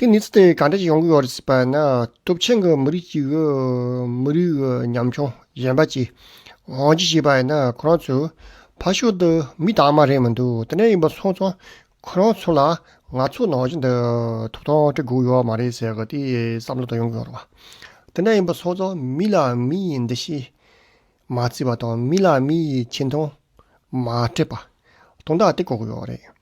དེ་ནི་ཚེ་གང་འདྲ་ཞིག་ཡོང་གི་ཡོད་སྲིད་པ་ནི་སྟོབས་ཆེན་གྱི་མི་རིགས་ཤིག་མི་རིགས་ཀྱི་ཉམ་ཆུང་གཞན་པ་གྱིས་དབང་ཆ་བཞེས་པ་ཡིན་ན་ཁོ་རང་ཚོས་ཕར་ཞོག་འདི་མི་དྭངས་མ་རེད་མི་འདུག་དེ་འདྲ་ཡིན་པ་སོང་ཙང་ཁོ་རང་ཚོ་ལ་ང་ཚོ་ནང་བཞིན་དུ་ཐོབ་ཐང་སྤྲད་དགོས་ཡོད་མ་རེད་ཟེར་གི་དེ་བསམ་བློ་དང་ཡོང་གི་ཡོད་རེད་བ། དེ་འདྲ་ཡིན་པ་སོང་ཙང་མི་ལ་མི་ཡི་འདུ་ཤེས་མ་བརྩི་བ་དང་མི་ལ་མི་ཡི་ཆེ་མཐོང་མ་སྤྲད་པ། དོན་དག་དེ་གོ་གི་ཡོད་རེད།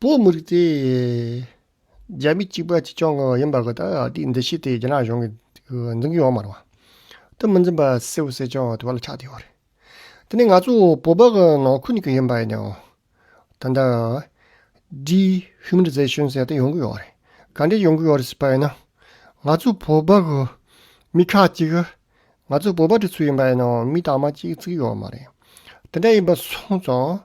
པོ་མི་རིགས་དེ་རྒྱ་མི་གཅིག་པ་གཅིག་རྐྱང་ཡིན་པ་དེ་དེའི་འདུ་ཤེས་དེ་རྒྱ་ནག་གཞུང་གིས་འཛིན་གྱི་ཡོད་མ་རེད་བ། དེ་མི་འཛིན་པ་སེ་བོ་སེ་ཅང་དེ་བ་ལ་ཆགས་བསྡད་ཡོད་རེད། དེ་ནས་ང་ཚོ་བོད་པ་གི་ནང་ཁུལ་གྱི་ཡིན་པ་ཡིན་ནའང། ད་ལྟ། Dehumanization ཟེར་དེ་ཡོང་གི་ཡོད་རེད། ག་འདྲས་ཡོང་གི་ཡོད་རེད་ཟེར་པ་ཡིན་ན། ང་ཚོ་བོད་པ་གི་མི་ཁག་ཅིག་གིས་ང་ཚོ་བོད་པ་འདི་ཚོ་ཡིན་པ་ཡིན་ནའང་མི་དག་མ་གཅིག་གཅིག་ཡོད་མ་རེད། དེ་འདྲ་ཡིན་པ་སོང་ཙང།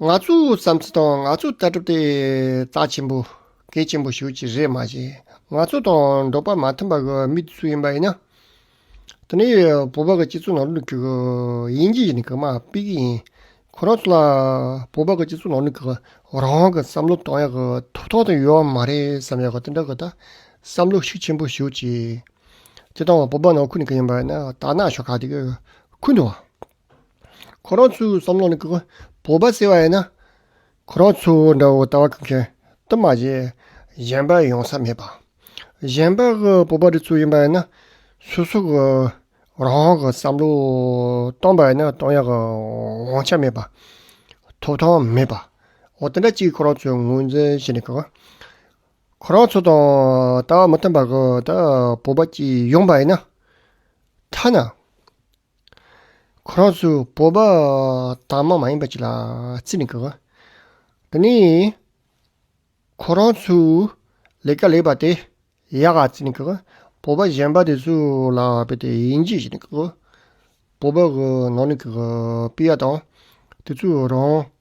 ང་ཚོའི་བསམ་ཚུལ་དང་ང་ཚོའི་ལྟ་གྲུབ་དེ་རྩ་ཆེན་པོ་གལ་ཆེན་པོ་ཞིག་རེད་མ་གཞི་ང་ཚོ་དང་འགྲོགས་པ་མ་མཐུན་པ་གི་མི་དེ་སུ་ཡིན་པ་ཡིན་ན། དེ་ནི་བོད་པ་གི་སྤྱི་ཚོགས་ནང་ལུགས་ཀྱི་དབྱིན་ཇི་ཡིས་ནི་གང་མ་དཔེ་གི་ཡིན། ཁོ་རང་ཚོ་ལ་བོད་པ་གི་སྤྱི་ཚོགས་ནང་ལུགས་ཀྱི་རང་དབང་གི་བསམ་བློ་གཏོང་ཡག་གི་ཐུབ་ཐང་དེ་ཡོད་མ་རེད་བསམ་ཡག་གི་དེ་འདྲ་གི་ད་བསམ་བློ་ཤུགས་ཆེན་པོ་ཞུ་ཅིག། དེ་དང་བོད་པ་ནང་ཁུལ་ནས་གང་ཡིན་པ་ཡིན་ན་དར་ནག་ཤོག་ཁག་དེ་གི་ཁུལ་དུ། ཁོ་རང་ཚོའི་བསམ་བློ་ནི་གུས་པ་བོད་པ་ཟེར་བ་ཡིན་ན། ཁོ་རང་ཚོ་འདྲ་བོ་ལྟ་བ་ཁུག་མཁན་དུ་མ་བྱེད། གཞན་པ་ཡོང་ས་མེད་པ། གཞན་པ་གི་བོད་པ་རི་ཚོ་ཡིན་པ་ཡིན་ན། སོ་སོ་གི་རང་གི་བསམ་བློ་སྟོང་པ་ཡིན་ན་སྟོང་ཡག་གི་དབང་ཆ་མེད་པ། ཐོབ་ཐང་མེད་པ། འོ་དེ་འདྲ་གཅིག་ཁོ་རང་ཚོས་ངོས་འཛིན་བྱེད་ནི་གུག། ཁོ་རང་ཚོ་དང་ལྟ་བ་མི་མཐུན་པ་གི་བོད་པ་གཅིག་ཡོང་པ་ཡིན་ན། ཐ་ན། ཁོ་རང་ཚོའི་སྤོབས་པ་དྭངས་མ་མ་ཡིན་པ་ཅིག་ལ་བརྩི་མི་དགོས། འདི་ནི་ཁོ་རང་ཚོའི་ལས་ཀ་ལེགས་པ་དེ་ཡག་ག་བརྩི་མི་དགོས། སྤོབས་པ་ཞན་པ་དེ་ཚོ་ལ་དཔེ་དེ་དབྱེ་འབྱེད་བྱེད་མི་དགོས། སྤོབས་པ་གི་ནང་ནས་ཀྱི་སྤུས་ཡག་དང་དེ་ཚོའི་རང་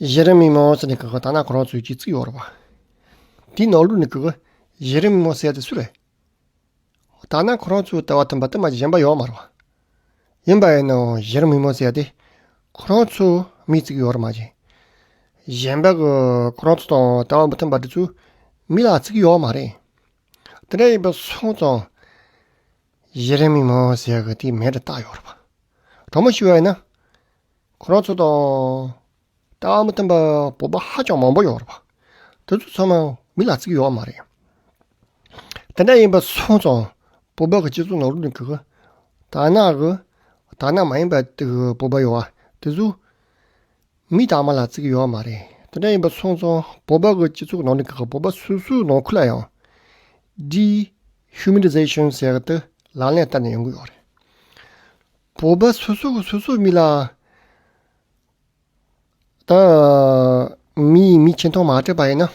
གཞི་རིམ་མི་མང་ཚོ་ནི་ཀུ་ཀུ་ཐ་ན་ཁོ་རང་ཚོའི་གཅིག་བརྩེགས་ཡོད་རེད་བ། དེའི་ནང་ལུགས་ནི་ཀུ་ཀུ་གཞི་རིམ་མི་མང་སེལ་ཏེ་སུ་རེད། ཐ་ན་ཁོ་རང་ཚོའི་ལྟ་བ་མཐུན་པ་དུ་མ་གཞན་པ་ཡོད་མ་རེད་བ། ཡིན་པ་ཡིན་ནའང་གཞི་རིམ་མི་མང་སེལ་ཏེ་ཁོ་རང་ཚོ་མིའི་བརྩེགས་ཡོད་རེད་མ་ཅིང། གཞན་པ་གི་ཁོ་རང་ཚོ་དང་ལྟ་བ་མི་མཐུན་པ་དེ་ཚོའི་མི་ལ་བརྩེགས་ཡོད་མ་རེད། དེ་འདྲ་ཡིན་པ་སོང་ཙང་གཞི་རིམ་མི་མང་སེལ་གི་དེ་མེད་རེད་བལྟ་ཡོད་རེད་བ། གྲོགས་མོ་ཤི་བ་ཡིན་ན། ཁོ་རང་ཚོ་དང། ལྟ་བ་མི་མཐུན་པའི་བོད་པ་ཧ་ཅང་མང་པོ་ཡོད་རེད། དེ་ཚོ་ཚང་མ་མི་ལ་བརྩི་གི་ཡོད་མ་རེད། དེ་འདྲ་ཡིན་པ་སོང་ཙང་བོད་པའི་སྤྱི་ཚོགས་ནང་རུལ་གི་གི། དར་ནག་གི། དར་ནག་མ་ཡིན་པའི་དེ་གི་བོད་པ་ཡོད་བ་དེ་ཚོ། མི་དར་མ་ལ་བརྩི་གི་ཡོད་མ་རེད། དེ་འདྲ་ཡིན་པ་སོང་ཙང་བོད་པའི་སྤྱི་ཚོགས་ནང་གི་བོད་པ་སོ་སོའི་ནང་ཁུལ་ལ་ཡང། Dehumanization ཟེར་གི་དེ་ལག་ལེན་བསྟར་ནས་ཡོང་གི་ཡོད་རེད། བོད་པ་སོ་སོ་གི་སོ་སོའི་མི་ལ་དང། མི་ཡིས་མི་ཆེ་མཐོང་མ་སྤྲད་པ་ཡིན་ན།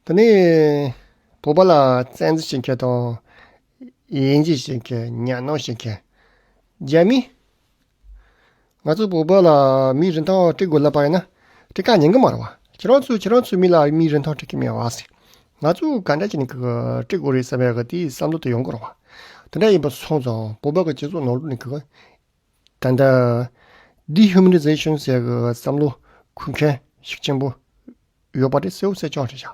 དེ་ནི་བོད་པ་ལ་བཙན་འཛུལ་བྱེད་མཁན་དང། དབྱེ་འབྱེད་བྱེད་མཁན་གཉའ་གནོན་བྱེད་མཁན་རྒྱ་མི། ང་ཚོ་བོད་པ་ལ་མིའི་རིན་ཐང་སྤྲད་དགོས་ལབ་པ་ཡིན་ན་དེ་ག་ཉན་གི་མ་རེད་བ། ཁྱེད་རང་ཚོས་ཁྱེད་རང་ཚོའི་མི་ལ་མིའི་རིན་ཐང་སྤྲད་ཀྱི་མེད་བ། ང་ཚོས་ག་འདྲ་བྱས་ནས་བཀྲིས་དགོས་རེད་བསམ་པའི་དེའི་བསམ་བློ་དེ་ཡོང་དགོས་རེད། དེ་འདྲ་ཡིན་པ་སོང་ཙང་བོད་པའི་སྤྱི་ཚོགས་ནང་ལུགས་ནས་ད་ལྟ Dehumanization ཟེར་བའི་བསམ་བློ་འཁུར་མཁན་ཞིག་ཆེན་པོ་ཡོད་པ་དེ་གསལ་བོ་གསལ་རྐྱང་རེད་བྱ།